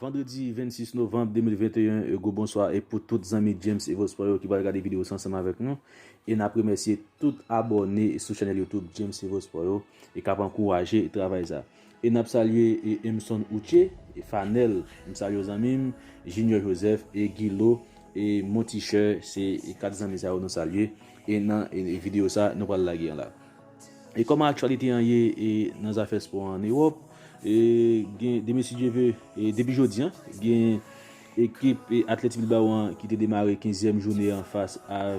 Vandredi 26 novanb 2021 e gwo bonswa e pou tout zanmi James Evo Sport yo ki pral gade video sa ansanm avèk nou e nap remèsye tout abòne sou chanèl YouTube James Evo Sport yo e kap ankouraje travay sa. E nap salye Emson Outche, Fanel m salye w zanmim, Junior Joseph e Guilo e Montichè se 4 zanmi sa yo nou salye e nan video sa nou pral lage an la. E kòman aktyalite an ye nan zafè spò an Ewòp, e gen de mesi Dye ve e depi jodi an gen ekip Athletic Bilbao an ki te demare 15 zièm joune an fas a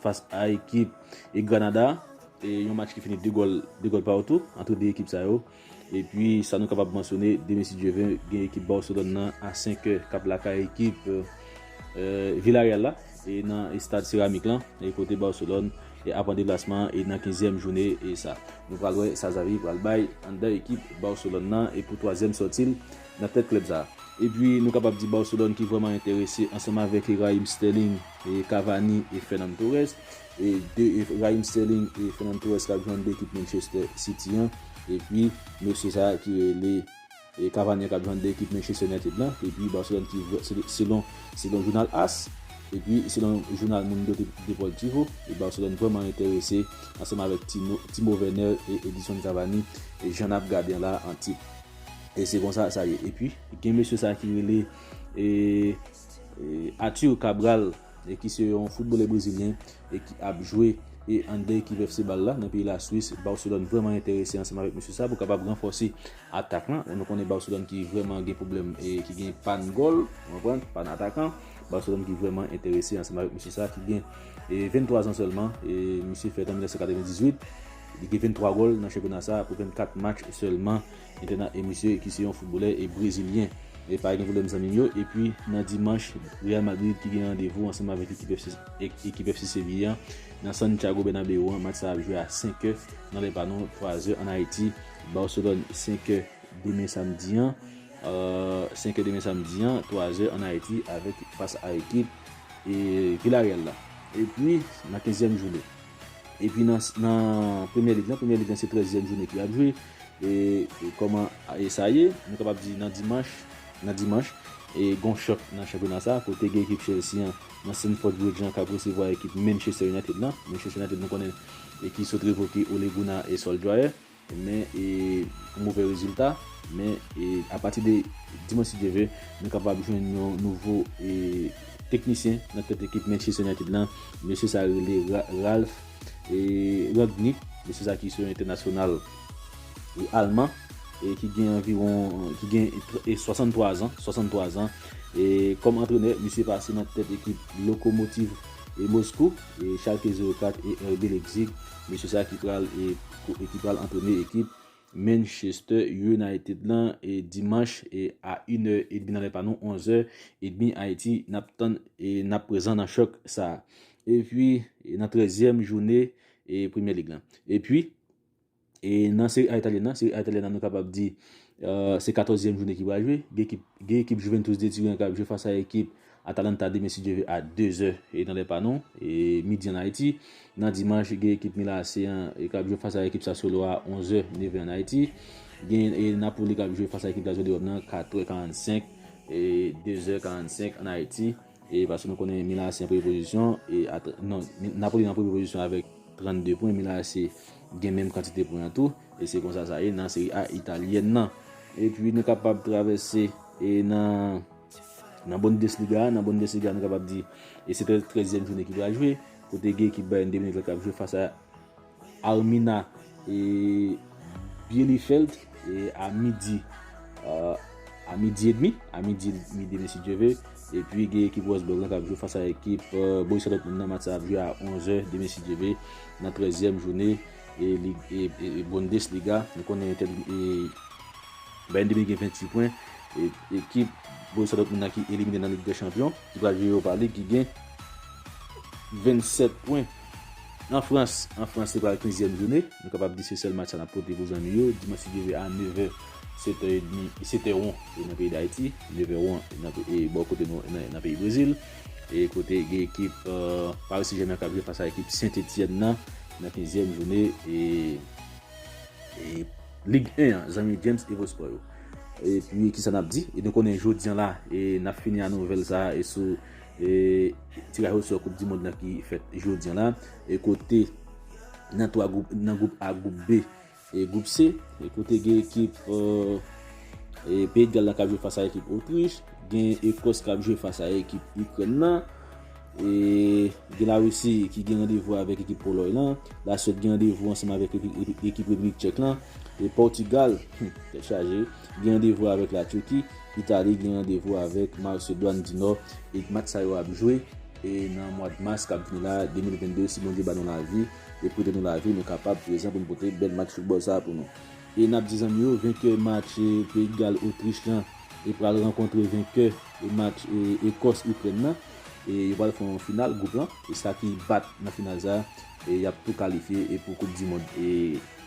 fas a ekip e Granada. Yon match ki fini 2 gòl 2 gòl partou antre 2 ekip sa yo. Epi sa nou kapab mansyone demen si Dye ve gen ekip Barcelone nan a 5 è kap lakay ekip Villarreal la e nan estad Ceramic lan e kote Barcelone ap an deplasman e nan 15 èm joune e sa. Nou pral wè sa Xavi pral bay anndan ekip Barcelone nan e pou 3 èm sòti l nan tèt klèb sa. Epi nou kapab di Barcelone ki vrèman enterese ansanm avèk Raheem Sterling, Cavani e Fernan Torres. de Raheem Sterling e Fernand Torres kap jwenn de ekip Manchester City an epi mesye sa ki rele Cavani kap jwenn de ekip Manchester United lan epi Barcelone ki selon selon jounal as epi selon jounal Mundo Deportivo Barcelone vreman enterese ansanm avèk Timo Timo Werner e Edison Cavani jan nap gade an la an tip e se konsa sa ye epi gen mesye sa ki rele e. Arthur Cabral ki se yon footbalè brezilyen ki ap jwe under ekip FC Bal la nan peyi la Swis. Barcelone vreman enterese ansanm avèk mesye sa pou kapab ranfòse atak lan. Nou konnen Barcelone ki vreman gen pwoblèm e ki gen pann gòl, ou konprann, pann atakan. Barcelone ki vreman enterese ansanm avèk mesye sa ki gen 23 zan sèlman. Mesye fèt an 1998. Li gen 23 gòl nan chanpyona sa pou 24 match sèlman. Li te nan Emisye ki se yon foutbolè e brezilyen. E pa gen pwoblèm zanmi m yo. Epi nan dimanch, Real Madrid ki gen randevou ansanm avèk ekip FC Seville an nan Santiago Bernabeu an. Match sa ap jwe a 5 è nan lè pa nou, 3 zè an Ayiti. Barcelone 5 è demen samdi an, 5 è demen samdi an, 3 zè an Ayiti avèk fas a ekip Villarreal la. Epi nan kenzyèm jounen. Epi nan premye lig lan, premye lig lan se trèzyèm joune ki ap jwe, e kòman sa ye, nou kapab di nan dimanch, nan dimanch, e gon chòk nan chanpyona sa, kote gen ekip Chelsea an, nan Stamford Bridge lan, kap resevwa ekip Manchester United lan, Manchester United nou konnen, e ki sot revoke Ole Gunnar Solskjaer. men e pou movè rezilta men e apati de dimanch si Dye ve nou kapab jwenn yon nouvo e teknisyen nan tèt ekip Manchester United lan mesye sa rele Ralph e Rangnick mesye sa ki se yon entènasyonal e alman e ki gen anviwon ki gen e 63 zan 63 zan e kòm antrenè misye pase nan tèt ekip Lokomotiv e Moskou e Schalke 04 e RB Leipzig mesye sa ki pral e. pou ekip pral antrenè ekip Manchester United lan e dimanch e a inè edmi nan lè pa nou onzè edmi Ayiti nap tann e nap prezan nan chòk sa a epi nan trèzyèm jounè e premyè lig lan epi e nan seri a italyèn nan seri a italyèn nan nou kapab di se katòzyèm jounè ki pral jwe gen ekip gen ekip Juventus de Turen kap jwe fas a ekip Atalanta demen si Dye ve a 2 zè nan lè pa nou, midi an Ayiti. Nan dimanch gen ekip Milan AC an k ap jwe fas a ekip Sassuolo a 11 zè, neven an Ayiti. Gen Napoli k ap jwe fas a ekip Lazio de Ròm nan 4 trè 45, 2 zè 45 an Ayiti. Paske nou konnen Milan AC an premye pozisyon, non Napoli nan premye pozisyon avèk 32 pwen, Milan AC gen menm kantite pwen an tou. E se konsa sa ye nan Serie A italyèn nan. Epi nou kapab travèse nan. Nan Bundesliga, nan Bundesliga nou kapab di e se trèzyèm joune ki pral jwe, kote gen ekip Bayern de Munich la kap jwe fas a Armina e Bielefeld e a midi a midi e demi, a midi e demi si Dieu veut, e pi gen ekip Wolfsburg la kap jwe fas a ekip Borussia Dortmund nan, match sa ap jwe a 11 è demen si Dieu veut, nan trèzyèm joune e Bundesliga, nou konnen e. Bayern de Munich gen 26 pwen, ekip Borussia Dortmund nan ki elimine nan Lig dè Chanpyon, ki pral jwe Europa League ki gen 27 pwen. An Frans, an Frans se pral 15 zièm joune, nou kapab di se sèl match sa nap pote pou zanmi yo, dimanch li rive a 9 è, 7 è edmi, 7 è won nan peyi Dayiti, 9 è won bò kote nou nan peyi Brezil, e kote gen ekip Paris Saint Germain kap jwe fas a ekip Saint Etienne nan, nan 15 zièm joune e. Ligue 1 an zanmi James Evosport yo. Epi kisa nap di? E nou konnen jodi an la e nap fini a nouvèl sa e sou e tiraj osò koup di mond nan ki fèt jodi an la e kote nan 3 gwoup nan gwoup A gwoup B e gwoup C e kote gen ekip e peyi de gal la kap jwe fas a ekip otrich gen ekòs kap jwe fas a ekip ikrèn nan. E gen La Risi ki gen randevou avèk ekip Polòy lan. La Swèd gen randevou ansanm avèk ekip Repiblik Tchèk lan. E Pòtigal, hum, tèt chaje, gen randevou avèk La Turki. Itali gen randevou avèk Masedwàn di Nò. E match sa yo ap jwe e nan mwad Mas k ap vini la, 2022, si Bondye ba nou lavi e prete nou lavi, nou kapab prezan pou n pote bèl match foutbòl sa a pou nou. E n ap di zanmi yo, venkè match Peyi Gal Otrich lan e pral rankontre venkè match Ekòs Ikrèn lan. E yo pral fè yon final group lan e sa ki bat nan final sa e yap tou kalifye e pou koup di mond e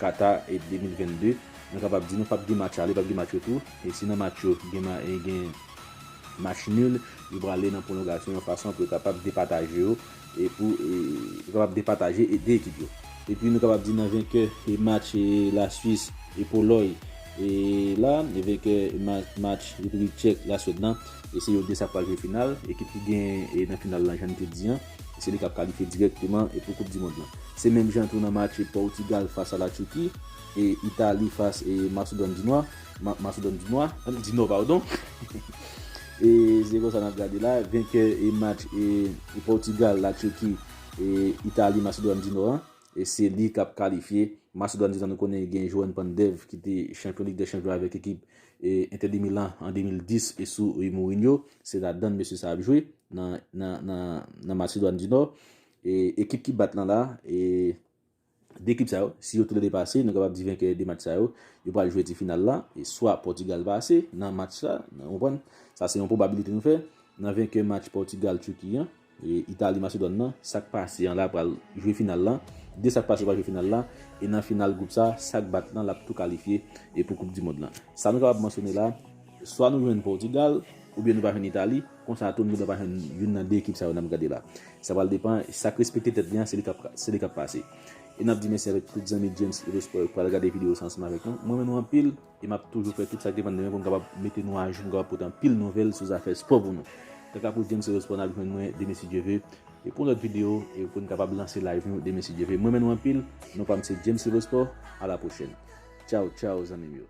Qatar e 2022 mwen kapab di nou pap gen match ale pap gen match retou e si nan match yo gen ma e gen match nul yo prale nan pwolongasyon yon fason pou yo kapab depataje yo e pou e yo kapab depataje e 2 ekip yo. E pi nou kapab di nan venkè e match e la Swis e Polòy e la e venkè e match match Repiblik Tchèk la Swèd lan. E se yo 2 sa k pral jwe final. Ekip ki gen e nan final lan jan n te di an, se li k ap kalifye dirèkteman e pou koup di mond lan. Se menm jan tou nan matche Pòtigal fas a la Turki e Itali fas e Masedòn di Nwa, Masedòn di Nwa, di Nò padon. E se konsa n ap gade la, venkè e match e Pòtigal, la Turki e Itali, Masedòn di Nò an, e se li k ap kalifye. Masedòn di Nò nou konnen gen Joan Pandev ki te chanpyon lig dè chanpyon avèk ekip Inter de Milan an 2010 e sou Mourinho, se ladann mesye sa ap jwe nan Masedwàn di Nò. Ekip ki bat lan la, de ekip sa yo, si yo toulede pase, nou kapab di venkè de match sa yo, yo pral jwe ti final la, e swa Pòtigal pase nan match sa, sa se yon pwobabilite nou fè, nan venkè match Pòtigal-Turki an. Italie Macedon nan sak pase an la pral jwe final lan, 2 sak pase yo pral jwe final la e nan final group sa sak bat lan lap tou kalifye e pou koup di mond lan. Sa nou kapab mansyone la swa nou jwenn Portugal ou byen nou pa jwenn Italie konsa tou nou gen dwa pa jwenn youn nan 2 ekip sa yo nap gade la sa pral depan sak respekte tèt li an se li kap se li kap pase e nap di mèsi avèk tout zanmi James Edo Sport yo ki pral gade video sa ansanm avèk nou mwen renmen nou anpil. E map toujou fè tout sak depann de mwen pou m kapab mete nou ajou, pou m kapab pote anpil nouvèl sou zafè spò pou nou. Kaka pou James Rose Paul nap jwenn mwen demen si Dye ve, e pou yon lòt video e pou n kapab lanse live nou demen si Dye ve. M renmen nou anpil, non pa m se James Rose Paul, a la pwochèn. Tchaw tchaw zanmi m yo.